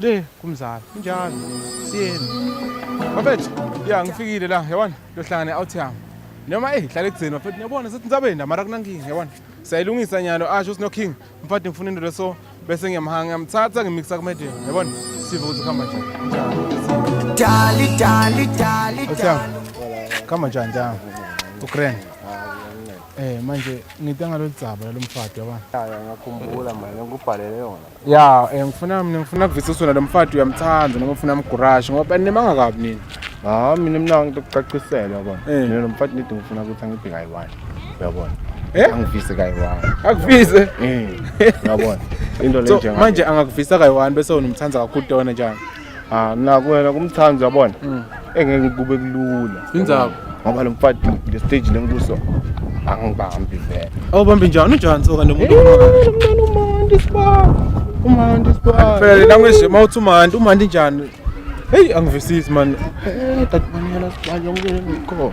Le kumzala. Kunjalo. Siyeni. Bafethu, ya ngifikile la, yabona, ngiyohlangana out yami. Noma eh hlale kudzeni bafethu, niyabona sethi ntsabenda mara kunankinga, yabona. Sayilungisa nyalo asho sino king, mfati ngifuna into leso bese ngiyamhanga ngiyamthatha ngimixa ku media, yabona. Sive ukuthi khamba nje. Dali dali dali Otsham. Khamba njani njani? Ugrand. Eh manje ngitanga lolu dzaba lomfati yabona. Ngiyakhumbula manje ngikubhalele yona. ya eh, ngifuna mina ngifuna kuvisa usona lo mfati uyamthanda noma ufuna amgurashe ngoba nimanga kabi nini hayi mina mina ngicela ukucacisela yabona Eh. mina lo mfati nidi ngifuna ukuthi angiphe kayi-one uyabona Eh? angivise kayi-one akuvise Eh, uyabona into le So, njenga manje angakuvisa kayi-one bese unomthanda kakhulu tona njani Ah naku wena kumthandi uyabona. Mm. Engeke kube kulula. Inzaba. Ngoba lo mfati le stage lenkuso angibambi vele. Awubambi njani unjani soka nomuntu omaka? Umntana uMandi sibaba. uMandi sibaba. Ngifele la ngisho mawuthi uMandi uMandi njani? Hey angivisisi man. Eh dadimanyela sibali yonke ngikho.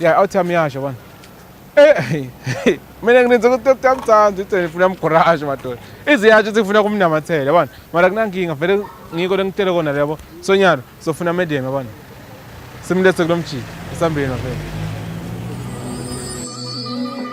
ya outcome yasho bana eh mina nginenza ukuthi uyakuthanda uthi ngifuna umgurashe madoda iziyasho ukuthi ngifuna kumnamathela yabona mara kunankinga vele ngiko lengitshele kona lebo sonyalo sofuna medium yabona simlethe kulomjiki esambeni wavela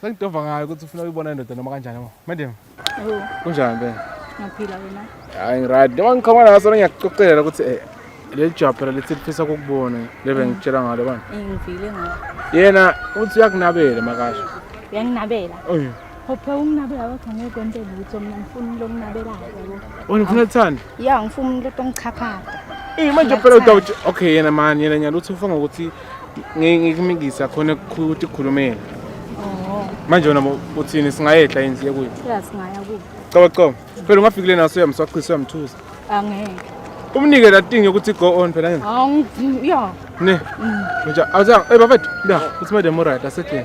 Sengidova ngayo ukuthi ufuna uyibona indoda noma kanjani ma. Madam. Yebo. Kunjani be? Ngiyaphila wena. Hayi ngirad. Noma ngiqhoma naso ngiyakuxoxela ukuthi eh leli jabhela lithi lifisa ukukubona lebe mm. ngitshela ngalo bani. Eh ngivile ngalo. Yena uthi uyakunabela makasho. Uyanginabela. Oh yeah. Hophe unginabela kodwa ngeke kwente lutho mina ngifuna lo nginabelayo yabo. Wena ufuna ukuthanda? ya ngifuna umuntu otongichaphata Eh manje phela udawuthi okay yena mani yena nyaluthi ufunga ukuthi ngikumikisa khona ukuthi kukhulumela. Oh. Manje wena uthini singayehla yini siye kuyo? Ya singaya kuyo. Caba caba. Phela ungafikile naso uyamswaqisa uyamthusa. Angeke. Umnike la thing yokuthi go on phela yena. Angifuni. Ya. Ne. Manje mm. awuza eh bafethu. Ya, uthi madam right asekhona.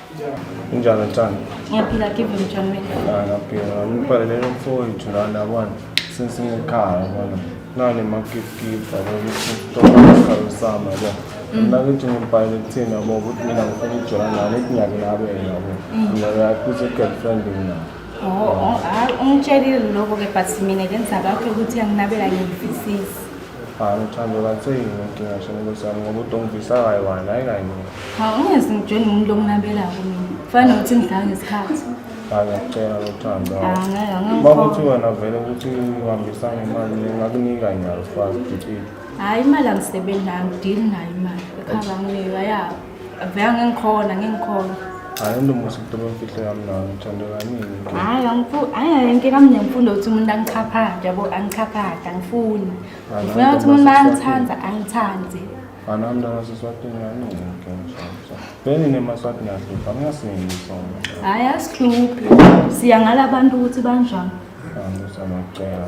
Injalo Thando. Ngiyaphila give him John Wayne. Ah, ngiyaphila. Ngibhalele lo mfowethu lana yabona. Since ngikhaya yabona. Nale makikipa ukuthi kutoka isikhawu sami yabona. Mm. Mina ngithi ngibhalele kuthina yabo ukuthi mina ngifuna ukujola nayo lethi nyaka nabe yabo. Mm. Mina yakuthi girlfriend mina. Oh, oh, ah, ungitshelile lokho ke but mina ke ngizakakho ukuthi anginabela ngiyifisisi. Hayi uthando katheni ngicinga shona nkosi yami ngoba udongivisa kayi wani hayi kayi mina. Hawu ungezi ngitshela umuntu lokunabelako mina. Kufanele ukuthi ngidlala ngesikhathi. Hayi ngiyacela uthando. Ah, ngeke, ngeke Uma ngikholwe. kuthi wena vele ukuthi uhambisa ngemali ngingakunika nyalo sifazi dicile. Hayi imali angisebenzi nayo, ngidili nayo imali. Ekhava nginika yabo. Vele ngikhona ngikhona. Hayi untomusa ukuthoba imfihlo yami nawe ngithanda kaningi. Hayi angifu hayi inkinga mina ngifunda ukuthi umuntu angichaphanje yabo angichaphanje angifuni. Hayi, Ngifuna ukuthi umuntu ntombazane, angithanda angithande. Ana mna naseswatini kaningi ngiyamshaya. Beni nemaswati ngiyahlupha ngiyasingi sona. Hayi asihluphi. Siya ngala bantu ukuthi banjani. Angizama kucela.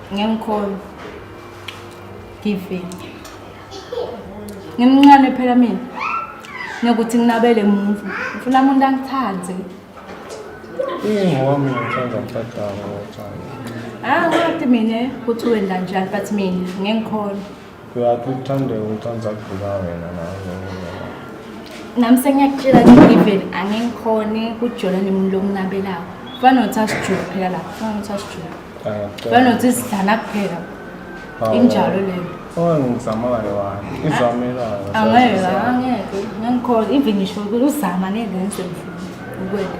Ngiyamkhona. Giving. Ngimncane phela mina. Nokuthi nginabele muntu. Ngifuna umuntu angithande. Ingowami ngithanda mfadala ngothanda. Ah, ngathi mina kuthiwe ndanjani but mina ngikhona. Uyaphi uthande uthanda kugula wena nawe. Nami sengiyakutshela ukuthi even angikhoni kujola nemuntu lokunabelayo. Kufana nokuthi asijule phela lapha. Kufana nokuthi asijule. Kufana nokuthi sidlana kuphela. Injalo leyo. Ongizamayo wani? Izamelayo. Angeke, angeke. Ngikhona even ngisho ukuthi uzama ngeke ngisemfuni. Ukwenda.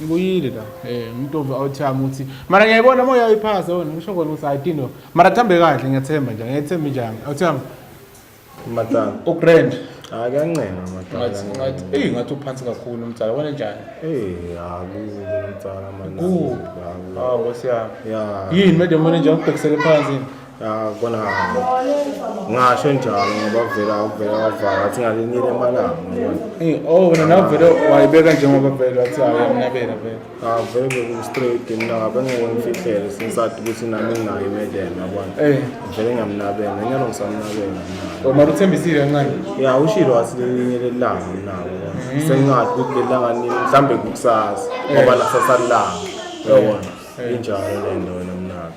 Ngibuyile la. Eh umuntu ove awuthami uthi mara ngiyayibona moya uyiphasa wena ngisho kona ukuthi ayidino. Mara thambe kahle ngiyathemba nje ngiyethemba njani. Awuthami. Matanga. Ugrand. Hayi kuyancenga matanga. Ngathi ngathi eh ngathi uphansi kakhulu umtsala wena njani? Eh akuzi umtsala manje. Ku. Hawu siyami. Yeah. Yini manje manje nje ubhekisele phansi. Ya kona ngasho njalo ngoba vele awuvele wavaka athi ngalenyile emalanga Eh, oh wena nawe vele wayibeka njengoba vele wathi awuyamnabela vele avele bekustraight mina ngabe ngiwemfihlele sinsathi ukuthi nami nginayo imedeni yabona Eh, vele ngiyamnabela inyalo ngisamnabela mina oh, mara uthembisile kancane ya ushilo wathi lelinye lelanga nabo sengathi ukuthi lelanga nini mhlawumbe kukusasa ngoba lasasalanga yabona injalo le nto wena mnabo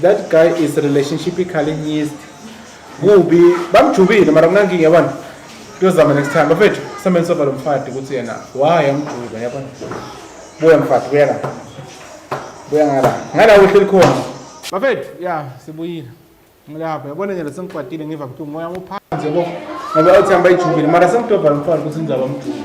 That guy is relationship ikhalinyist. Kubi bamjubile mara kunankinga yabona. Kuyozama next time bafethu semen sofa lo mfati ukuthi yena why amjuba yabona. Buya mfati buya la. Buya ngala. Ngala uhleli khona. Bafethu ya sibuyile. Ngilapha yabona nje sengikwatile ngiva ukuthi umoya uphansi yabo. Ngoba uthi hamba ijubile mara sengidobha lo mfati ukuthi ngizaba mjuba.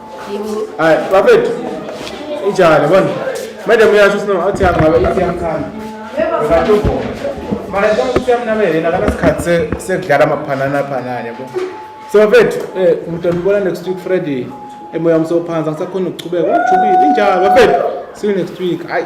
Hayi, bafethu. Ijale bona. Madam uyasho sino athi angabe ithi yamkhanda. Ngakho. Mara kwa ukuthi amnamele nakana sikhathi se- sekudlala amaphanana phanana yabo. So bafethu, eh umntwana ubona next week Friday. Emoya wami sophansi angisakhona ukuchubeka. Ujubile injalo bafethu. See you next week. Hayi.